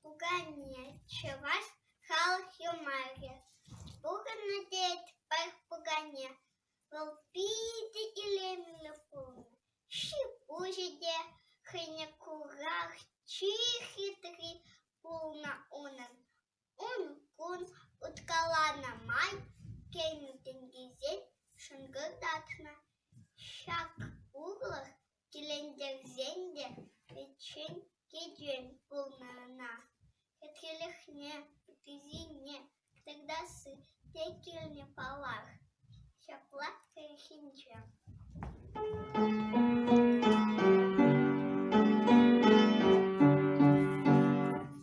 Пукане чӑваш халӑх юмахӗ пухӑннӑ тет Пах Пукане. Вӑл питӗ илемлӗ пулнӑ, ҫипуҫӗ те хӑйне курах чи хитри пулнӑ унӑн. Ун-кун уткаланӑ май кӗнӗ тӗнчесен шӑнкӑртатнӑ ҫак урлӑх Килентерсен те ветчен кӗтӳ пулнӑ ӑна, хӗтхелӗхне, кӗсйине тӑкса сыр те килнӗ паллах, ҫапла кӗрхинче.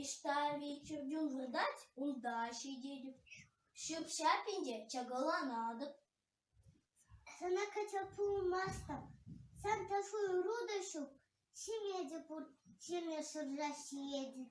Ӑҫта-и чӗрчун выртать, унта ҫитет. Ҫӳп-ҫапӗн те чакаланатӑп. Сана качча пулмастӑп. Сан ташлу ӑру та ҫук. Ҫиме те пур, ҫиме шырса ҫиетӗп.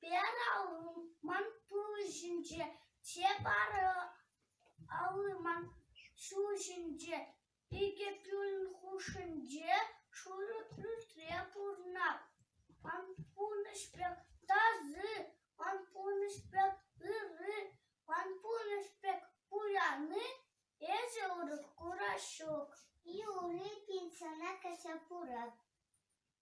Пӗралман тул ҫинче те пӑралман ҫул ҫинче икӗ кӳл хушшинче шурӑ пӳртре пурӑнать. Ванпурнӑҫ пек таса, ванпурнӑҫ пек ырри, ванпурнӑҫ пек пуяны эсӗ урӑх кура ҫук. Юлий пенсиона кӗрсе пырать.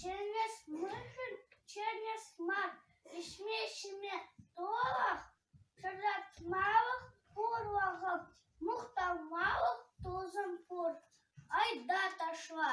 Чӗнес мӑшӑр чӗнес мар, ӗҫме-ҫиме тӑлӑх, шӑратмалӑх пур вӑхӑт, мухтанмалӑх тусӑм пур, айта ташла.